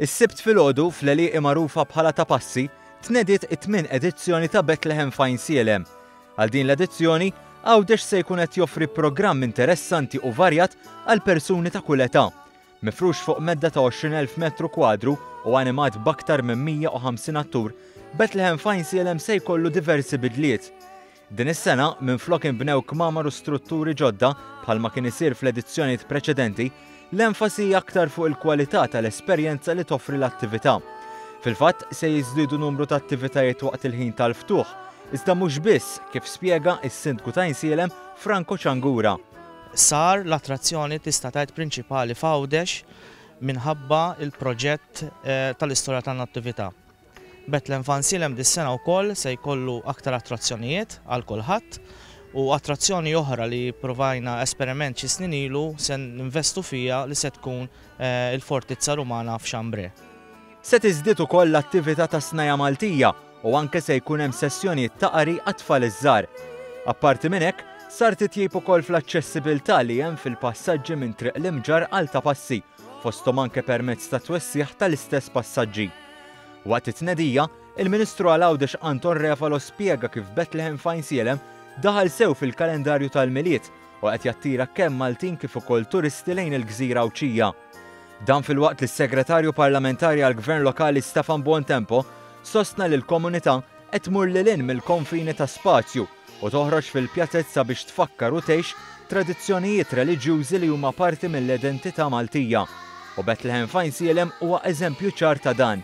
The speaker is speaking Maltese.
Is-Sibt filgħodu fl-għelieqi magħrufa bħala Ta' Passi tnediet it-tmien edizzjoni ta' Bethlehem f'Għajn Sielem. Għal din l-edizzjoni, Għawdex se jkun qed joffri programm interessanti u varjat għal persuni ta' kull età. Mifrux fuq medda ta' 20,000 metru kwadru u animat b'aktar minn 150 attur, Bethlehem f'Għajn Sielem se jkollu diversi bidliet. Din is-sena, minflok inbnew kmamar u strutturi ġodda, bħalma kien isir fl-edizzjonijiet preċedenti, l-enfasi hi aktar fuq il-kwalità tal-esperjenza li toffri l-attività. Fil-fatt, se jiżdiedu numru ta' attivitajiet waqt il-ħin tal-ftuħ, iżda mhux biss, kif spjega s-Sindku t'Għajnsielem, Franco Ciangura. Sar l-attrazzjoni tista' tgħid prinċipali f'Għawdex minħabba l-proġett tal-istorja tan-Nattività. Bethlehem Fansilem dis-sena wkoll se jkollu aktar attrazzjonijiet għal kulħadd u attrazzjoni oħra li ppruvajna esperiment xi snin ilu se ninvestu fiha li se tkun il-Fortizza Rumana f'Chambre. Se tiżdied ukoll l-attività tas-Snajja' Maltija u anke se jkun hemm sessjonijiet ta' qari għat-tfal iż-żgħar. Apparti minn hekk, sar titjib ukoll fl-aċċessibilità li hemm fil-passaġġi minn Triq l-Imġarr għal Ta' Passi, fosthom anke permezz tat-twessigħ tal-istess passaġġi. Waqt it-tnedija, il-Ministru għal Għawdex Anton Refalo spjega kif Bethlehem f'Għajnsielem daħal sew fil-kalendarju tal-Milied u qed jattira kemm Maltin kif ukoll turisti lejn il-gżira Għawdxija. Dan filwaqt li s-Segretarju Parlamentari għall-Gvern Lokali Stefan Buontempo sostna li l-komunità qed tmur lil hinn mill-konfini ta' spazju u toħroġ fil-pjazezza biex tfakkar u tgħix tradizzjonijiet reliġjużi li huma parti mill-identità Maltija, u Bethlehem f'Għajnsielem huwa eżempju ċar ta' dan.